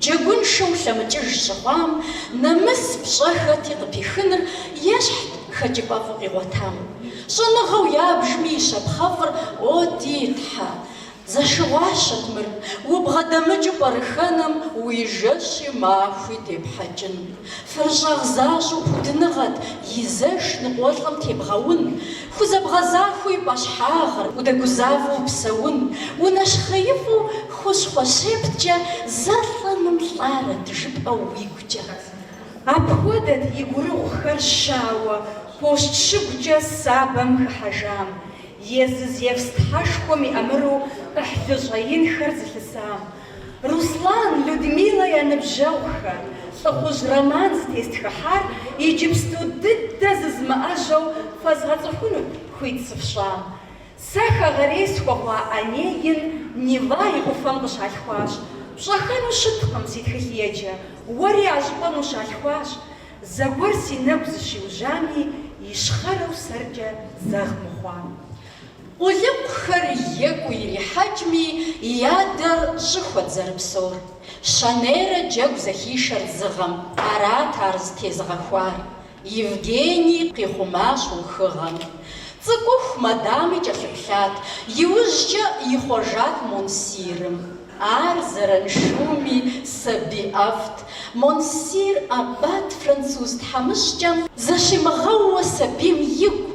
Джэгуншэу лъэмыкӏыж щыхъуам нэмыс пщӏэ хэти къыпихыныр ещхьт хэкӏыпӏэфӏу къигъуэтам. Щӏэныгъэу ябжми и щапхъэфӏыр, О, ди Тхьэ! Зэшыгъуащэт мыр, убгъэдэмыкӏыу пӏэрыхэнэм уи жэщи махуи депхьэкӏын. Фэрыщӏагъ защӏэу пудыныгъэт, и зэш ныкъуэлӏым тебгъэун, хузэбгъэзахуэу и пӏэщхьагъыр, удэгузавэу упсэун, унэщхъеифӏу хущхъуэ щепткӏэ зэ лӏэным лӏарэт жыпӏэу уигукӏэ. Апхуэдэт и гурыгъухэр щауэ пощт шыгукӏэ сабэм хыхьэжам, езы Зевс тхьэшхуэм и ӏэмыру ӏыхьлы щӏэинхэр зылъысам. Руслан, Людмилэ я ныбжьэгъухэр, лӏыхъужь роман зытестхыхьар иджыпсту дыдэ зызмыӏэжьэу фэзгъэцӏыхуну хуит сыфщӏам. Сэ хэгъэрей схуэхъуа Онегин Нева и ӏуфэм къыщалъхуащ. Пщӏэхэну щыткъым си тхылъеджэ, уэри а щӏыпӏэм ущалъхуащ. Зэгуэр си нэгу зыщиужьами, ищхъэрэу сэркӏэ зэгъ мыхъуам. Къулыкъухэр екӏуу ирихьэкӏми, и адэр щӏыхуэт зэрыпсэур. Щэнейрэ джэгу зэхишэрт зы гъэм, арат ар зытезыгъэхуар. Евгений къихъумащ ухыгъэм. Цӏыкӏуху Мадами кӏэлъыплъат, иужькӏэ ихъуэжат Монсирым. Ар зэраншуми сабий ӏэфӏт. Монсир аббат француз тхьэмыщкӏэм. Зэщимыгъэууэ сабийм игу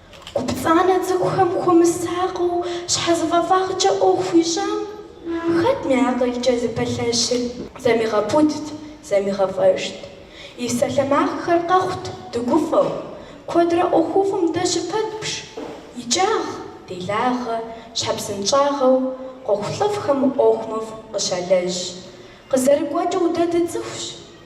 Гупцӏанэ цӏыкӏухэм хуэмысакъыу щхьэзыфӏэфӏагъкӏэ ӏуэху ищӏам хэтми акъылкӏэ зыпэлъэщыр зэмигъэпудт, зэмигъэфӏэжт. И псалъэмакъхэр къэхъут дыгуфӏэу, куэдрэ ӏуэхуфӏым дэ щыпэтщӏ, икӏагъ, делагъэ, щхьэпсынщӏагъэу ӏуэхулӏыфӏхэм ӏуэху мыфӏ къыщалэжь. Къызэрыгуэкӏыу дэ дыцӏыхущ.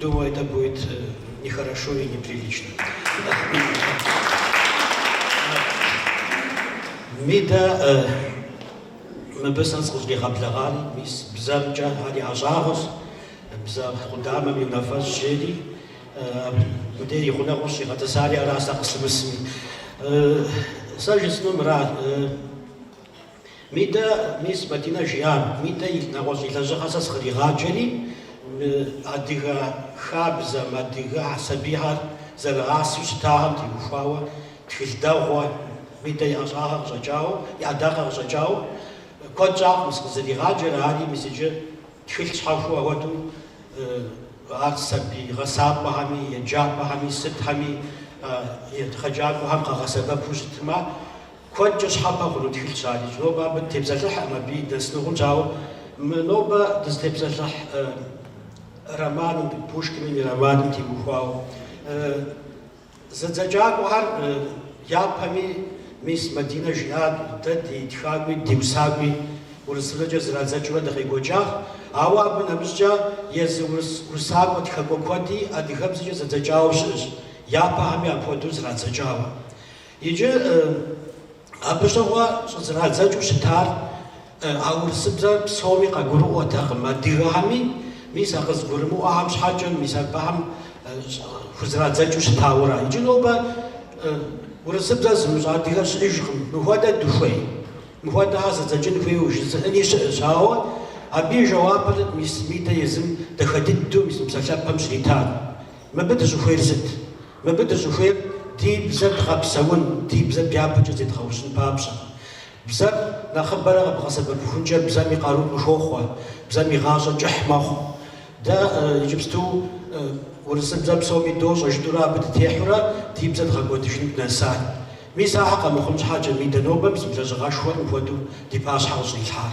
Думаю, это будет нехорошо и неприлично. Мидэ, мыбы сэ сыкъыщӏригъэблэгъари, мис бзэмкӏэ ар и ӏэщӏагъэщ, бзэ къудамэм и унафэщӏ жери, мыдей и гъунэгъуу сигъэтӏысари аращ сэ къыслъымысми. Сэ жысӏэну мыра, Мидэ, мис Мадинэ жиӏар, Мидэ и нэгъуэщӏ и лэжьыгъэр сэ сыкъригъаджэри, мы адыгэ хабзэм, адыгэ сабийхэр зэрыгъасэу щытагъэм теухуауэ, тхылъ дэгъуэ, Мидэ и ӏэщӏагъэ къыщӏэкӏауэ, и ӏэдакъэ къыщӏэкӏауэ, куэд щӏакъым сыкъызэригъаджэр, ари мис иджы тхылъ щхьэхуэу ахуэдэу ар сабий гъэсакӏуэхэми, еджапӏэхэми, сытхэми, егъэджакӏуэхэм къагъэсэбэпу щытмэ, Куэдкӏэ щхьэпэ хъуну тхылъщ адэкӏэ. Нобэ абы дытепсэлъыхькъым абыи дынэсынущ, ауэ мы нобэ дызытепсэлъыхь романым, Пушкиным и романым теухуауэ, зэдзэкӏакӏуэхэр япэми, мис Мадинэ жиӏат, дэ ди тхакӏуи ди усакӏуи урысыбзэкӏэ зэрадзэкӏыурэ дыкъекӏуэкӏащ, ауэ абы нэмыщӏкӏэ езы урыс усакӏуэ тхакӏуэ куэди адыгэбзэкӏэ зэдзэкӏауэ щыӏэщ, япэхэми апхуэдэу зэрадзэкӏауэ. Иджы абы щыгъуэ щӏызэрадзэкӏыу щытар а урысыбзэр псоми къагурыӏуэтэкъым, адыгэхэми, мис а къызгурымыӏуэхэм щхьэкӏэ, мис абыхэм хузэрадзэкӏыу щытауэра. Иджы нобэ урысыбзэр зымыщӏэ адыгэ щыӏэжкъым. Мыхуэдэ дыхуей? Мыхуэдэхэр зэдзэкӏын хуейуэ жызыӏэни щыӏэщ, ауэ абы и жэуапыр мис Мидэ езым дахэ дыдэу мис мы псалъэпэм щритат. Мыбы дыщӏыхуейр сыт? Мыбы дыщӏыхуейр ди бзэр дгъэпсэун, ди бзэр дяпэкӏэ зедгъэужьын папщӏэ. Бзэр нэхъыбэрэ къыбгъэсэбэпыхункӏэ бзэм и къару къыхохъуэ, бзэм и гъащӏэ кӏыхь мэхъу. Дэ иджыпсту урысыбзэр псоми дощӏэ жытӏурэ абы дытехьурэ ди бзэр дгъэкӏуэдыжыну дынэсар. Мис ахэр къэмыхъун щхьэкӏэ Мидэ нобэ мис мы лэжьыгъэшхуэр мыпхуэдэу ди пащхьэ къыщӏилъхьар.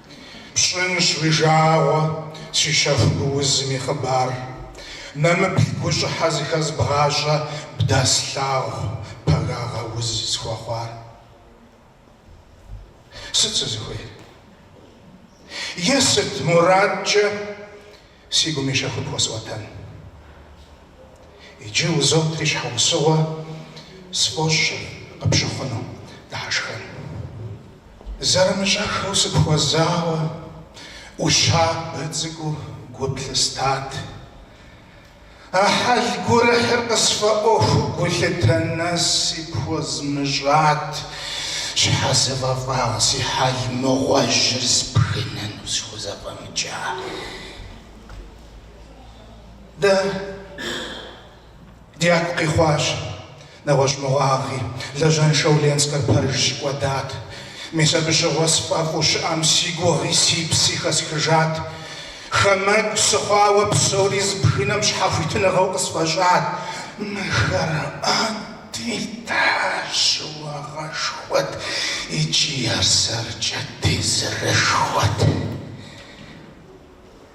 Пщӏынщ уи жагъуэ, си щэху гуузым и хъыбар. Нэмыплъ гущӏыхьэ зыхэзбгъащӏэ бдэслъагъу пагагъэ уз схуэхъуар. Сыт сызыхуейр? Е сыт мурадкӏэ? Си гум и щэхур пхуэсӏуэтэн. Иджы узотри щхьэусыгъуэ сфӏощӏ къыпщыхъуну, дыхьэшхэн. Зэрымыщӏэххэу сыпхуэзауэ, ӏущабэ цӏыкӏуу гу плъыстат. А хьэл гурыхьыр къысфӏэӏуэхуу гулъытэ нэси пхуэзмыщӏат, щхьэзыфӏэфӏагъ си хьэл мыгъуэжьыр сбгынэну схузэфӏэмыкӏа. Дэ дяку къихъуащ. Нэгъуэщӏ мыгъуагъи, лажьэншэу Ленскэр пэжщ, кӏуэдат. Мис абы щыгъуэ сфӏэфӏу щыӏэм си гугъи си пси хэсхыжат. Хамэгу сыхъуауэ псори збгынэм щхьэхуитыныгъэу къысфӏэщӏат. Мыхэр, а ди Тхьэ, щыуагъэшхуэт икӏи ар сэркӏэ тезырышхуэт.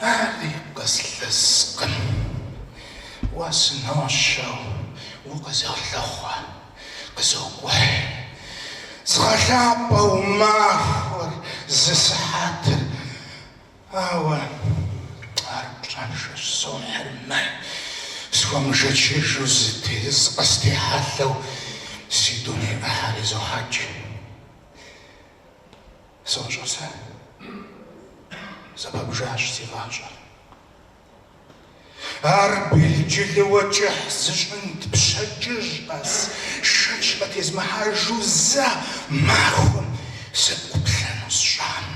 Ари къыслъыскъым, уэ сынощэу укъызолъыхъуэ, къызокӏухь. Згъэлъапӏэу махуэр зы сыхьэтыр, ауэ ар пщӏэншэу сохьыр мэ, схуэмышэчыжу зытез къыстехьэлъэу си дуней ӏыхьэр изохьэкӏ. Сощӏэ сэ. Зэпэбжащ си гъащӏэр. Ар белджылыуэ кӏыхь зыщӏынт пщэдджыжь къэс, шэч къытезмыхьэжу зэ махуэм сыпӏуплъэну сщӏам.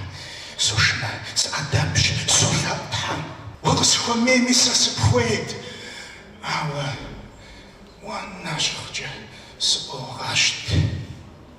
Сошынэ, сыӏэдэбщ, солъэӏу Тхьэм. Уэ укъысхуэмейми сэ сыпхуейт, ауэ уэ нэщхъкӏэ сыӏуогъэщт.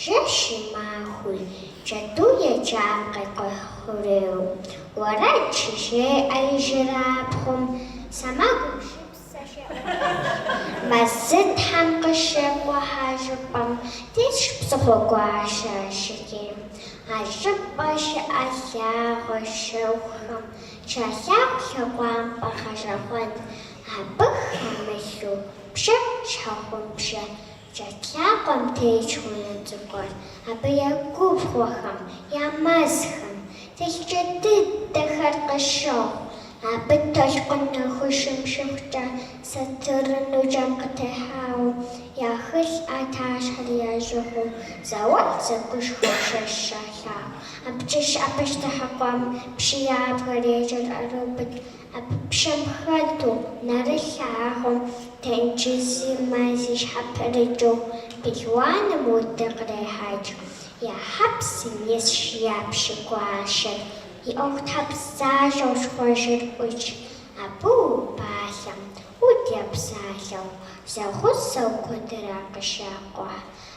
Жэщи махуи джэду еджам къекӏухь хъурейуэ. Уэрэд щыжеӏэ ижырабгъум, сэмэгум шыпсэ жеӏэжащ. Мэзытхьэм къыщекӏухь а щӏыпӏэм, тесщ псыхъуэгуащэ жыгейм. А щӏыпӏэм щыӏэ лъагъуэ щэхухэм щалъагъу лъэгъуампӏэ гъэщӏэгъуэн, абы хэмылъу бжэ щхьэгъубжэ. Джэд лъакъуэм тетщ унэ цӏыкӏур, абы я губгъуэхэм, я мэзхэм, телъыджэ дыдэхэр къыщохъу. Абы толъкъун нэхущым щыхъукӏэ, сатыру ныджэм къытехьауэ, я хылъ ӏэтащхьэри ящӏыгъуу, зауэлӏ зэкӏужу щэщӏ щалъагъу. Абыкӏэ щыӏэ пащтыхьыкъуэм пщы ябгэр ещӏыр ӏэрыубыд. Абы пщэм хэту, нэрылъагъуу тенджызи мэзи щхьэпрыкӏыу пелуаным удыр кърехьэкӏ. Я хьэпсым исщ я пщы гуащэр, и ӏуэхутхьэбзащӏэу щхъуэжьыр ӏутщ. Абы убалъэм, уд епсалъэу, зэгъусэу куэдрэ къыщакӏухь.